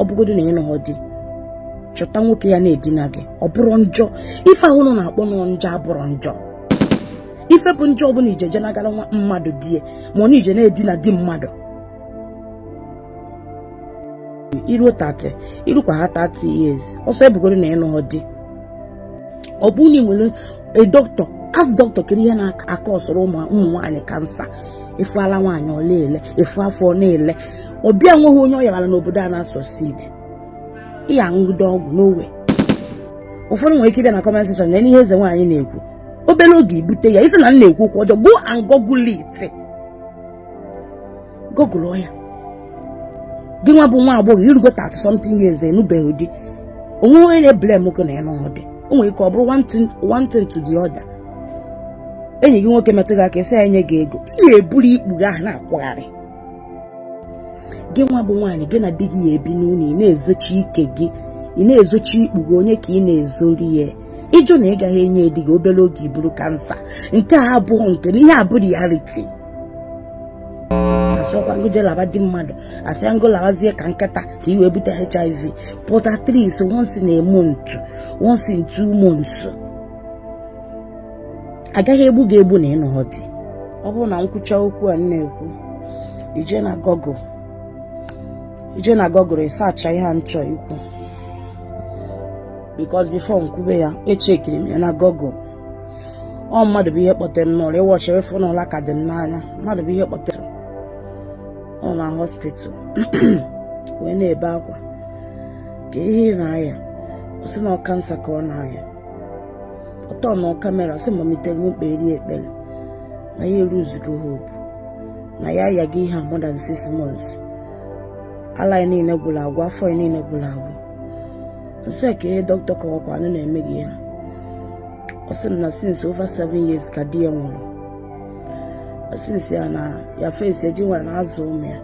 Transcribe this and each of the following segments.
ọ bụgodo na ịnụghọ di chọta nwoke ya na-edina gị ọ bụrọ njọ ife ahụ unu na-akpọ njọ abụrọ njọ ife bụ njọ bụ na ije je nagara nwa mmadụ di ya ma ọ na ije na-edina di mmadụ iruo 30 irukwa ha 30 years ọ sọ ya bụgodo na ịnụghọ di ọ bụrụ na ị nwere dọkịta ask dọkịta kedu ihe na-akọsọrọ ụmụ nwaanyị kansa ị fụ ala nwaanyị ọ na-ele ị fụ afọ ọ na-ele ọ bịa nweghị onye ọ yawara n'obodo a na-asucceed ya aṅụgide ọgwụ n'owe ụfọdụ nwere ike ịbịa na comment section na ihe eze nwaanyị na-ekwu obere oge ibute ya ị sị na m na-ekwu okwu ọjọọ go and google it google ya gị nwa bụ nwa agbọghọ irugo 30 something years ịnụbeghị di o nweghị onye na-ebule m gị na ya n'ọdị o nwere ike ọ bụrụ one thing to the other enyi gị nwoke metụ gị aka ị sị ya nye gị ego ị ga-eburu ikpu gị ahụ na-akwụgharị gị nwa bụ nwaanyị gị na di gị ya ebi n'ụlọ ị na-ezochi ike gị ị na-ezochi ikpu gị onye ka ị na-ezori ya ịjụ na ị gaghị enye di gị obere oge iburu kansa nke a abụghị nke na ihe a bụ reality asọkwa m gị je laba di mmadụ asịghị m gị lawazie ka nkịta ka i wee bute hiv pụta at least once in a month once in two months agaghị egbu gị egbu na ịnụghọ di ọ bụrụ na m kwucha okwu a m na-ekwu ije na google ije na google ịsacha ihe a m chọ ikwu because before m kwube ya echekiri m ya na google ọ mmadụ bụ ihe kpọtere m n'ụla ị watch ị fụ na ụla ka dị m n'anya mmadụ bụ ihe kpọtere ọ na hospital wee na-ebe akwa kee ihe ị na-aya ọ sị na ọ kansa ka ọ na-aya ọtọ na kamera sị mamite nwekpe eri ekpere na ya eruzugo hope na ya ayago ihe a more than six months ala ya niile gwụrụ agwụ afọ ya niile gwụrụ agwụ m sị kee ihe dọkịta kọwakwanụ na-eme gị ya ọ sị m na since over seven years ka di ya nwụrụ asịsị ya na ya fesi ejinwa na azụ ụmụ ya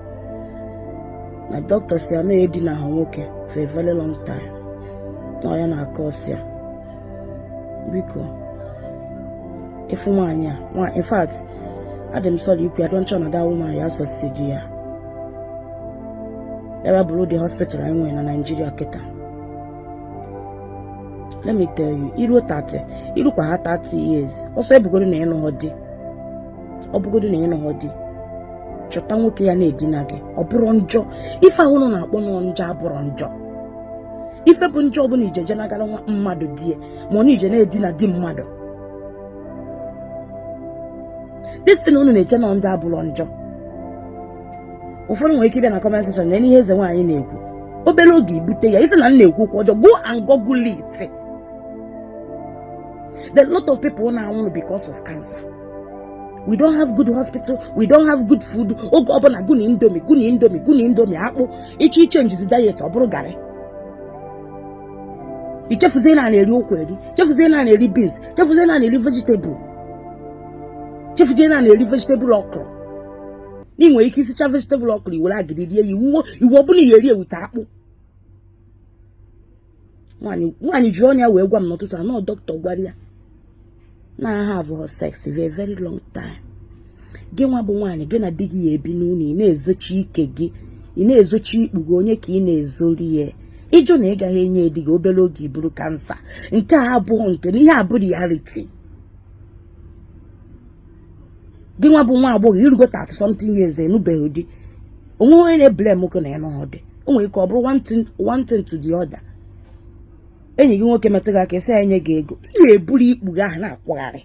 na dọkịta sị ya na ya edinaghị nwoke for a very long time na ọ ya na-akọsị ya biko ị fụ nwaanyị a nwa in fact adị m sorry ikwu ya i don't sure na that woman ya asucceed ya ebe ọ bụ ụdị hospital anyị nwere na Naịjirịa kịta let me tell you iruo 30 irukwa ha 30 years ọ sọ ya bụgodo na ịnụghọ di ọ bụgodo na ịnụghọ di chọta nwoke ya na-edina gị ọ bụrọ njọ ife ahụ unu na-akpọ njọ abụrọ njọ ife bụ njọ bụ na ije je nagara nwa mmadụ di ya ma ọ na ije na-edina di mmadụ this thing unu na-eche na njọ abụrọ njọ ụfọdụ nwere ike ịbịa na comment section na ihe eze nwaanyị na-ekwu obere oge ị bute ya ị sị na m na-ekwu okwu ọjọọ go and google it the lot of people na-anwụrụ because of cancer we don't have good hospital we don't have good food oge ọbụla gị na indomie gị na indomie gị na indomie akpụ ị che ị chenjizie diet ọ bụrụ garị i chefuzie na a na-eri ụkwa eri chefuzie na a na-eri beans chefuzie na a na-eri vegetable chefuzie na a na-eri vegetable okra ị nwere ike isicha vegetable ọkwụrụ i were agidi rie ya iwu iwu ọbụla ya eri ewute akpụ nwaanyị jiri ọnụ ya wee gwa m n'ụtụtụ a na dọkịta gwara ya na ha avụ sex for very long time gị nwa bụ nwaanyị gị na di gị ya-ebi n'ụlọ ị na-ezochi ike gị ị na-ezochi ikpu gị onye ka ị na-ezori ya ị jụ na ị gaghị enye di gị obere oge i buru kansa nke a abụghị nke na ihe a bụ reality gị nwa bụ nwa agbọghọ i rugo 30 something years ị nụbeghị di onwe onye na-eblame nwoke na ya anụhọ di o nwere ike ọ bụrụ one thing to the other enyi gị nwoke metụ gị aka esi enye gị ego ị ga-eburu ikpu gị ahụ na-akwagharị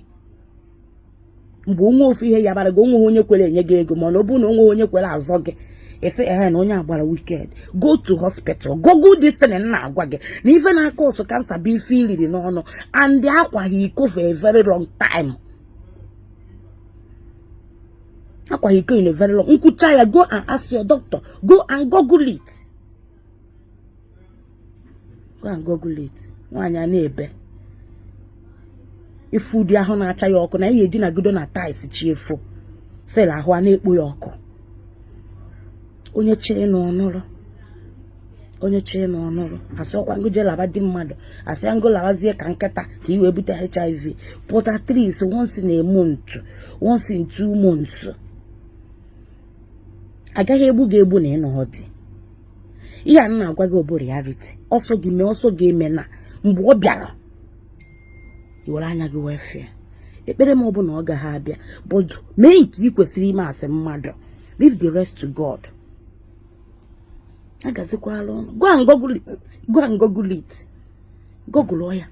mgbe onwe ofu ihe ya bara gị onweghị onye kwere enye gị ego mana ọ bụrụ na onweghị onye kwere azọ gị ị sị ehe na onye agbara wicked go to hospital google this thing na-agwa gị na ife na-akpata kansa bụ ife i riri n'ọnụ and akwaghị iko for a very long time akwaghị iko in a very long m kwuchaa ya go and ask your doctor go and google it go and google it nwaanyị a na-ebe ị fụ ụdị ahụ na-acha ya ọkụ na ya edinagodo na tiles chi efo still ahụ ana-ekpo ya ọkụ onye chọọ ịnụ ọ nụrụ onye chọọ ịnụ ọ nụrụ asịhọkwa m gị jee laba di mmadụ asị m gị labazie ka nkịta ka i wee bute hiv but at least once in a month once in two months agaghị egbu gị egbu na ị nụghọ di ihe a na-agwa gị ọ bụ reality ọ sọ gị mee ọ sọ gị emena mgbe ọ bịara i were anya gị wee fụ ya ekpere m ọ bụ na ọ gaghị abịa but gị mee nke ị kwesịrị ime as mmadụ leave the rest to God ọ gazikwaara ụnụ go and google it go and google it google ya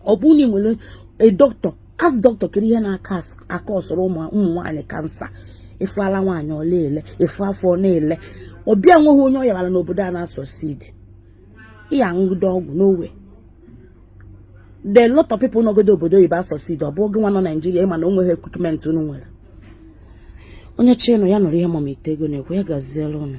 ọ bụrụ na ị nwere a doctor ask doctor kere ihe na-aka akọsụrụ ụmụ nwaanyị kansa ị fụ ala nwaanyị ọ na-ele ị fụ afọ ọ na-ele ọ bịa o nweghị onye ọ yawara n'obodo a na-asucceed ị ya-aṅụgide ọgwụ no way the lot of people nọgodo obodo oyibo asucceed ọ bụ gị nwa nọ naijiria ị ma na o nweghị equipment unu nwere onye chọọ ịnụ ya nụrụ ihe mama ite ego na-ekwu ya gaziere ụnụ